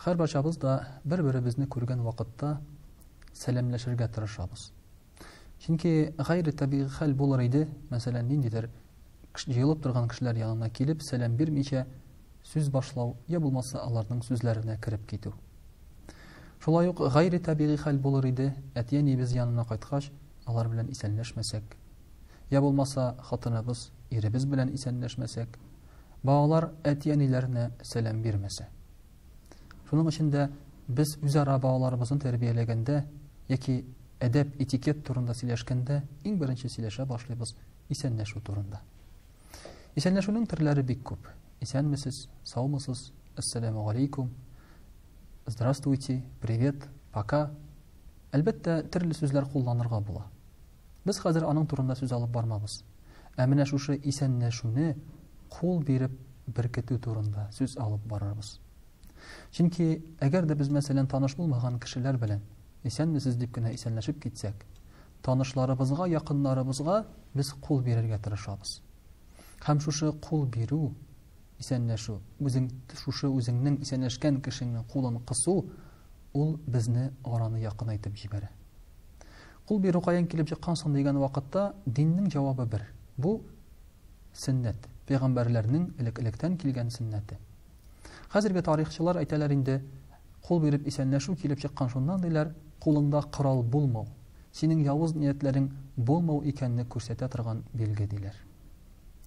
Һәрбарчабыз да бер-беребезне күргән вакытта сәламләшергә тырышабыз. Чөнки гайре табигый хәл булыр иде, мәсәлән, ниндидер җыелып торган кешеләр янына килеп, сәлам бирмичә сүз башлау, я булмаса аларның сүзләренә кереп китү. Шулай ук гайре табигый хәл булыр иде, әти-әниебез янына кайткач, алар белән исәнләшмәсәк, я булмаса хатыныбыз, иребез белән исәнләшмәсәк, балалар әти-әниләренә сәлам бирмәсә. Шуның өчен дә без үзара балаларыбызны тәрбияләгәндә яки әдәп этикет турында сөйләшкәндә иң беренче сөйләшә башлыйбыз исәнләшү турында. Исәнләшүнең төрләре бик күп. Исәнмесез, саумысыз, ассаламу алейкум, здравствуйте, привет, пока. Әлбәттә, төрле сүзләр кулланырга була. Без хәзер аның турында сүз алып бармабыз. Ә менә шушы исәнләшүне кул биреп беркетү турында сүз алып барырбыз. Чөнки, әгәр дә без, мәсәлән, таныш булмаган кешеләр белән исәнмесез дип кенә исәнләшеп китсәк, танышларыбызга, якыннарыбызга без кул бирергә тырышабыз. Һәм шушы кул бирү, исәнләшү, үзең шушы үзеңнең исәнләшкән кешеңнең кулын кысу, ул безне араны якынайтып җибәрә. Кул бирү каян килеп чыккан соң дигән вакытта диннең җавабы бер. Бу сөннәт, пәйгамбәрләрнең элек-электән килгән сөннәте. Хәзерге тарихчылар әйтәләр инде, кул биреп исәнләшү килеп чыккан шуннан диләр, кулыңда корал булмау, синең явыз ниятләрең булмау икәнне күрсәтә торган билге диләр.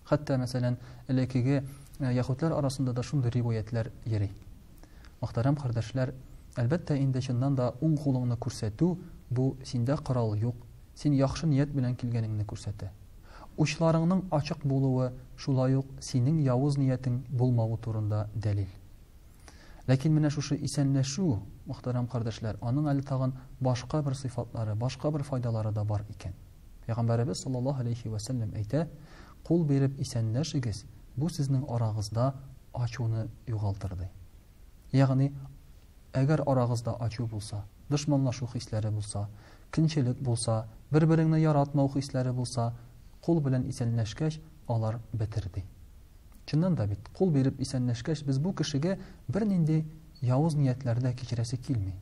Хәтта, мәсәлән, элекеге э, яхутлар арасында да шундый риваятләр йөри. Мөхтәрәм кардәшләр, әлбәттә инде чыннан да уң кулыңны күрсәтү бу синдә корал юк, син яхшы ният белән килгәнеңне күрсәтә. Учларыңның ачык булуы шулай ук синең явыз ниятең булмавы турында дәлил. Ләкин менә шушы исәнләшү, мөхтәрәм кардәшләр, аның әле тагын башка бер сыйфатлары, башка бер файдалары да бар икән. Пәйгамбәребез саллаллаһу алейһи вә сәлләм әйтә, Кул биреп исәнләшегез, бу сезнең арагызда ачуны югалтыр, ди. Ягъни, әгәр арагызда ачу булса, дошманлашу хисләре булса, көнчелек булса, бер-береңне яратмау хисләре булса, кул белән исәнләшкәч, алар бетер, ди. Чыннан да бит, кул биреп исәнләшкәч, без бу кешегә бернинди явыз ниятләр дә кичерәсе килми.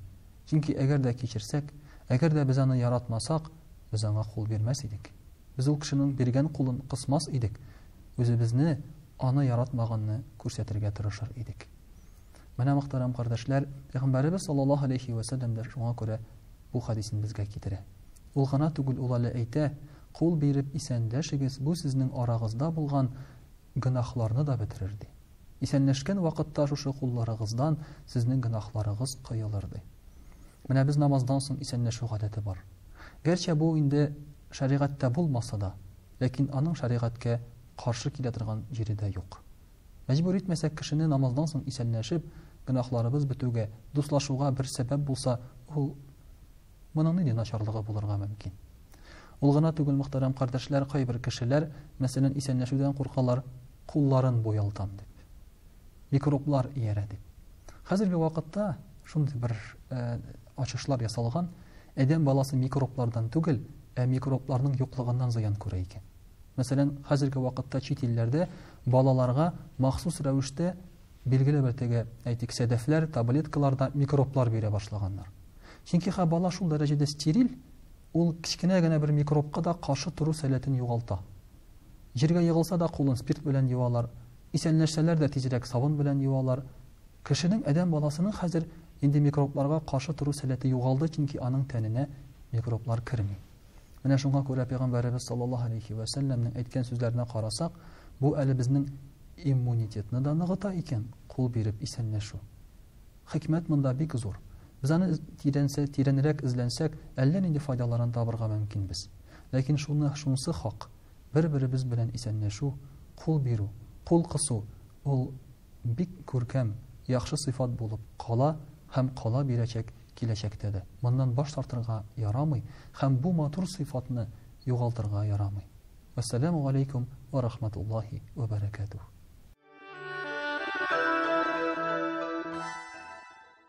Чөнки әгәр дә кичерсәк, әгәр дә без аны яратмасак, без аңа кул бирмәс идек. Без ул кешенең биргән кулын кысмас идек, үзебезне аны яратмаганны күрсәтергә тырышыр идек. Менә мөхтәрәм кардәшләр, Пәйгамбәребез саллаллаһу алейхи ва сәлләм дә шуңа күрә бу хадисен безгә китерә. Ул гына түгел, ул әле әйтә, Кул биреп исәнләшегез, бу сезнең арагызда булган Гөнаһларны да бетерер, ди. Исәнләшкән вакытта шушы кулларыгыздан сезнең гөнаһларыгыз коелыр, ди. Менә без намаздан соң исәнләшү гадәте бар. Гәрчә бу инде шәригатьтә булмаса да, ләкин аның шәригатькә каршы килә торган җире дә юк. Мәҗбүр итмәсәк кешене намаздан соң исәнләшеп, гөнаһларыбыз бетүгә, дуслашуга бер сәбәп булса, ул, Моның нинди начарлыгы булырга мөмкин? Ул гына түгел, мөхтәрәм кардәшләр, кайбер кешеләр, мәсәлән, исәнләшүдән куркалар, кулларын буялтам дип. Микроблар иярә дип. Хәзерге вакытта шундый бер э, ачышлар ясалган, әдәм баласы микроблардан түгел, ә микробларның юклыгыннан зыян күрә икән. Мәсәлән, хәзерге вакытта чит илләрдә балаларга махсус рәвештә Билгеле бер теге, әйтик, сәдәфләр, таблеткалар да микроблар бирә башлаганнар. Чөнки хә бала шул дәрәҗәдә стериль, ул кечкенә генә бер микробка да каршы тору сәләтен югалта. Җиргә егылса да кулын спирт белән юалар, исәнләшсәләр дә тизрәк сабын белән юалар. Кешенең, адәм баласының хәзер инде микробларга каршы тору сәләте югалды, чөнки аның тәненә микроблар керми. Менә шуңа күрә пәйгамбәребез саллаллаһу алейхи ва сәлләмнең әйткән сүзләренә карасак, бу әле безнең иммунитетны да ныгыта икән, кул биреп исәнләшү. Хикмәт монда бик зур. Без аны тирәнсә, тирәнрәк эзләнсәк, әллә нинди файдаларын табырга мөмкинбез. Ләкин шуны шунсы хак, бер-беребез белән исәнләшү, кул бирү, кул кысу ул бик күркәм, яхшы сыйфат булып кала һәм кала бирәчәк киләчәктә дә. Моннан баш тартырга ярамый һәм бу матур сыйфатны югалтырга ярамый. Вәссәламү галәйкүм вә рахматуллаһи вә бәрәкәтүһ.